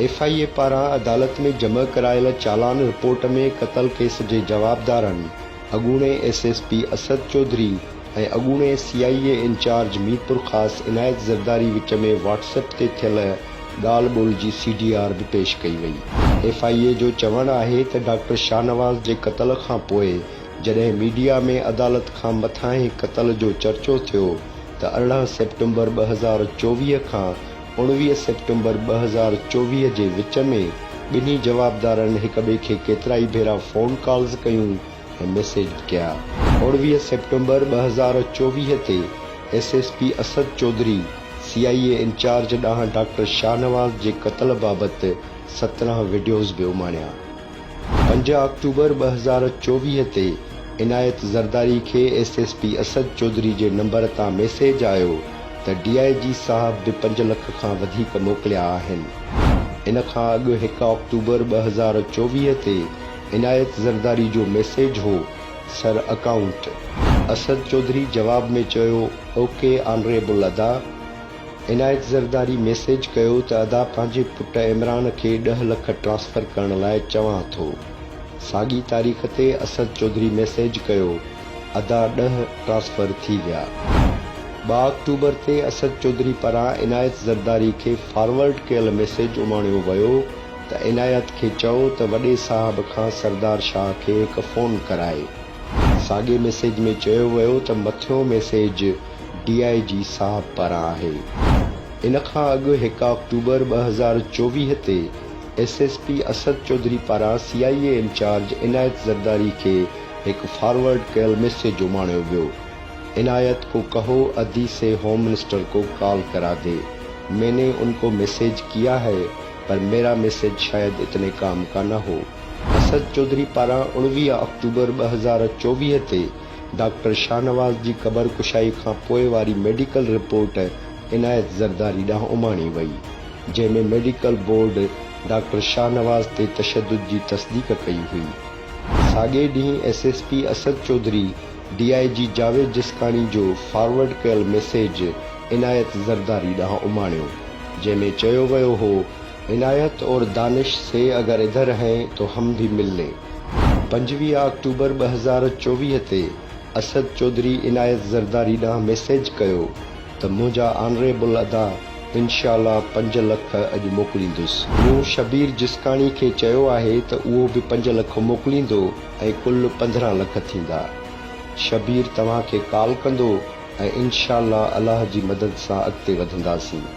F I A پاران عدالت ۾ جمع ڪرايل چالان رپورٽ ۾ قتل ڪيس جي جوابدارن اڳوڻي S S P Asad Chaudhry ۽ اڳوڻي C I A incharge Mirpurkhas Inayat Zardari وچ ۾ واٽس ايپ تي ٿيل ڳالهه ٻولهه جي سي ڊي آر به پيش ڪئي وئي. ايف آء اي جو چوڻ آهي ته ڊاڪٽر شاهنواز جي قتل کانپوء جڏهن ميڊيا ۾ عدالت کان مٿانهين قتل جو چرچو ٿيو، ته ارڙهن سيپٽمبر ٻه هزار چوويهه کان اڻويهه سيپٽمبر ٻه هزار چوويهه جي وچ ۾ ٻنهي جوابدارن هڪ ٻئي کي ڪيترائي ڀيرا فون ڪالز ڪيون ۽ ميسيج به ڪيا. اڻويهه سيپٽمبر ٻه هزار چوويهه تي S S P Asad Chaudhry C I A incharge ڏانهن ڊاڪٽر شاهنواز جي قتل بابت سترهن وڊيوز به اماڻيا. پنج آڪٽوبر ٻه هزار چوويهه تي عنايت زرداري کي S S P Asad Chaudhry جي نمبر تان ميسيج آيو ته ڊي آء جي صاحب به پنج لک کان وڌيڪ موڪليا آهن. ان کان اڳ هڪ آڪٽوبر ٻه هزار چوويهه تي عنايت زرداري جو ميسيج هو، سر اڪائونٽ. اسد چوڌري جواب ۾ چيو، اوڪي آنريبل ادا. عنايت زرداري ميسيج ڪيو ته ادا پنهنجي پٽ عمران کي ڏهه لک ٽرانسفر ڪرڻ لاء چوان ٿو. ساڳي تاريخ تي اسد چوڌري ميسيج ڪيو ادا ڏهه ٽرانسفر ٿي ويا. ٻه آڪٽوبر تي اسد چوڌري پاران عنايت زرداري کي فارورڊ ڪيل ميسيج اماڻيو ويو ته عنايت کي چئو ته وڏي صاحب کان سردار شاهه کي هڪ فون ڪرائي. ساڳي ميسيج ۾ چيو ويو ته مٿيون ميسيج ڊي آء جي صاحب پاران آهي. ان کان اڳ هڪ آڪٽوبر ٻه هزار چوويهه تي S S P Asad Chaudhry پاران سي آء اي انچارج عنايت زرداري کي هڪ فارورڊ ڪيل ميسيج اماڻيو ويو، عنايت ڪو ڪهو ادي سي هوم منسٽر ڪو ڪال ڪرا دي، مين ني ان ڪو ميسيج ڪيا هئ پر ميرا ميسيج شايد اتني ڪام ڪا نه هو. اسد چوڌري پاران اڻويهه آڪٽوبر ٻه هزار چوويهه تي ڊاڪٽر شاهنواز جي قبر ڪشائي کان پوء واري ميڊيڪل رپورٽ عنايت زرداري ڏانهن اماڻي وئي، جنهن ۾ ميڊيڪل بورڊ ڊاڪٽر شاهنواز تي تشدد جي تصديق ڪئي هئي. ساڳئي ڏينهن S S P Asad Chaudhry D I G Javed Jiskani جو فارورڊ ڪيل ميسيج عنايت زرداري ڏانهن اماڻيو، جنهن ۾ چيو ويو هو عنايت اور دانش سي اگر ادھر هين تو هم ڀي مل لين. پنجويهه آڪٽوبر ٻه هزار چوويهه تي اسد چوڌري عنايت زرداري ڏانهن ميسيج ڪيو ته منهنجا آنريبل ادا انشاء الله پنج لک اڄ موڪليندس. مون شبير جسڪاڻي کي چيو آهي ته اهو به پنج لک موڪليندو ۽ ڪل پندرهن لک ٿيندا. شبير توهان کي ڪال ڪندو ۽ انشاء الله الله جي مدد سان اڳتي وڌنداسين.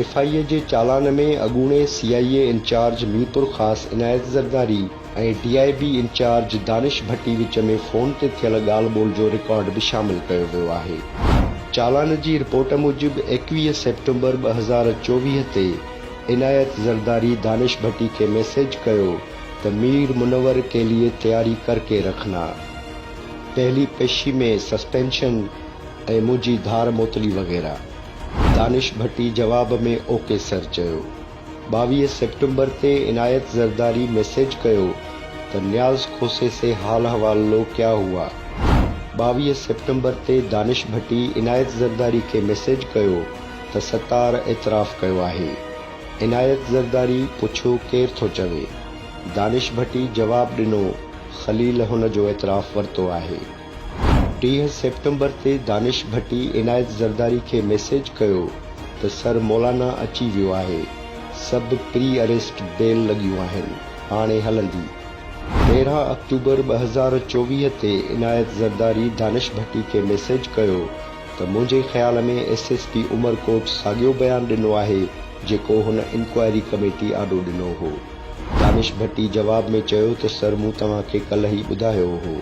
ايف آء اي جي چالان ۾ اڳوڻي C I A incharge Mirpur Khas Inayat Zardari ۽ D I B incharge Danish Bhatti وچ ۾ فون تي ٿيل ڳالهه ٻولهه جو رڪارڊ به شامل ڪيو ويو آهي. چالان جي رپورٽ موجب ايڪويهه سيپٽمبر ٻه هزار چوويهه تي عنايت زرداري دانش ڀٽي کي ميسيج ڪيو، ته مير منور ڪي ليي تياري ڪر ڪي رکنا، پهلي پيشي ۾ سسپينشن ۽ منهنجي ڌار موتلي وغيره. دانش ڀٽي جواب ۾ او ڪي سر چيو. ٻاويهه سيپٽمبر تي عنايت زرداري ميسيج ڪيو ته نياز کوسي سي حال حوال لو ڪيا هوا؟ ٻاويهه سيپٽمبر تي دانش ڀٽي عنايت زرداري کي ميسيج ڪيو ته ستار اعتراف ڪيو آهي، عنايت زرداري پڇيو ڪير ٿو چوي؟ دانش ڀٽي جواب ڏنو خليل هن جو اعتراف ورتو آهي. ٽيهه سيپٽمبر تي دانش ڀٽي عنايت زرداري کي ميسيج ڪيو ته سر مولانا اچي ويو آهي سڀ پري اريسٽ بيل لڳيون آهن هاڻي هلندي. تيرهن آڪٽوبر ٻه هزار چوويهه تي عنايت زرداري دانش ڀٽي کي ميسيج ڪيو ته منهنجي خيال ۾ ايس ايس پي عمرڪوٽ ساڳيو بيان ڏنو آهي جيڪو هن انڪوائري ڪميٽي آڏو ڏنو هو. دانش ڀٽي جواب ۾ چيو ته سر مون توهان کي ڪلهه ئي ٻڌايو هو.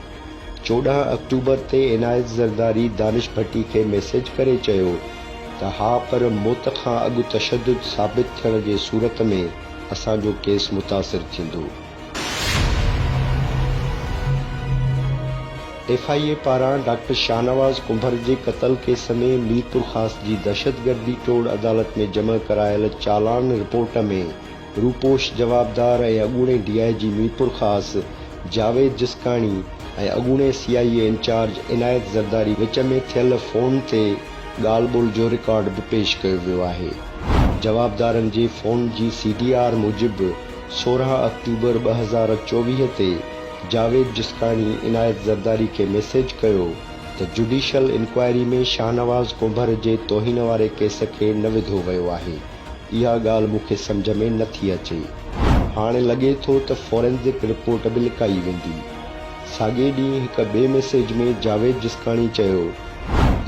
چوڏهن آڪٽوبر تي عنايت زرداري دانش ڀٽي کي ميسيج ڪري چيو ته ها پر موت کان اڳ تشدد ثابت ٿيڻ جي صورت ۾ اسان جو ڪيس متاثر ٿيندو. ايف آء اي پاران ڊاڪٽر شاهنواز ڪنڀر جي قتل ڪيس ۾ ميرپور خاص جي دهشتگردي ٽوڙ عدالت ۾ جمع ڪرايل چالان رپورٽ ۾ روپوش جوابدار ۽ اڳوڻي ڊي آء جي ميرپور خاص جاويد جسڪاڻي ۽ اڳوڻي سي آء اي انچارج عنايت زرداري وچ ۾ ٿيل فون تي ڳالهه ٻولهه جو رڪارڊ به پيش ڪيو ويو آهي جوابدارن جي فون جي سي ڊي آر موجب سورهن آڪٽوبر ٻه هزار چوويهه تي جاويد جسڪاڻي عنايت زرداري کي ميسيج ڪيو ته جڊيشل انڪوائري ۾ شاهنواز ڪنڀر جي توهين واري ڪيس کي نه وڌو ويو آهي، اها ڳالهه مون کي سمجهه ۾ نه ٿي اچي. هاڻي لڳي ٿو ته فورينزڪ رپورٽ به لڪائي ويندي. ساڳئي ڏينهن هڪ ٻئي ميسيج ۾ جاويد جسڪاڻي چيو.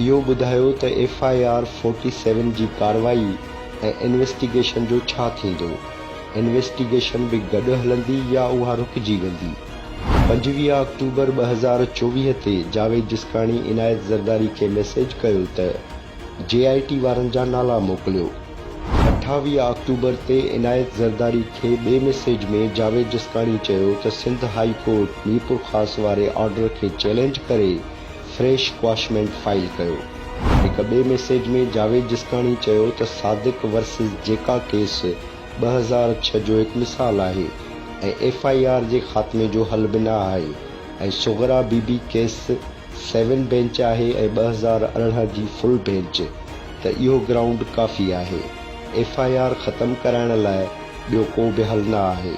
اهو ٻڌايو ته ايف آء آر فورٽي سيون جي ڪارروائي ۽ انويسٽيگيشن جو ڇا ٿيندو؟ انويسٽيگيشن به گڏ هلندي يا اها رڪجي ويندي؟ پنجويهه آڪٽوبر ٻه هزار چوويهه تي جاويد جسڪاڻي عنايت زرداري کي ميسيج ڪيو ته جي آء ٽي وارن جا نالا موڪليو. اٺاويهه آڪٽوبر تي عنايت زرداري کي ٻئي ميسيج ۾ جاويد جسڪاڻي چيو ته سنڌ هائي ڪورٽ ميرپورخاص واري آرڊر کي چئلينج ڪري فريش ڪواشمينٽ فائل ڪيو. هڪ ٻئي ميسيج ۾ جاويد جسڪاڻي چيو ته صادق ورسز جيڪا ڪيس ٻه هزار ڇهه جو هڪ مثال آهي ۽ ايف آء آر جي خاتمي جو حل به نه آهي ۽ Sughra Bibi case seven bench آهي ۽ ٻه هزار ارڙهن جي فل بينچ ته اهو گرائونڊ ڪافي آهي ايف آء آر ختم ڪرائڻ لاء ٻيو ڪو به حل نه آهي.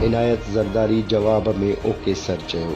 عنايت زرداري جواب ۾ اوڪي سر چيو.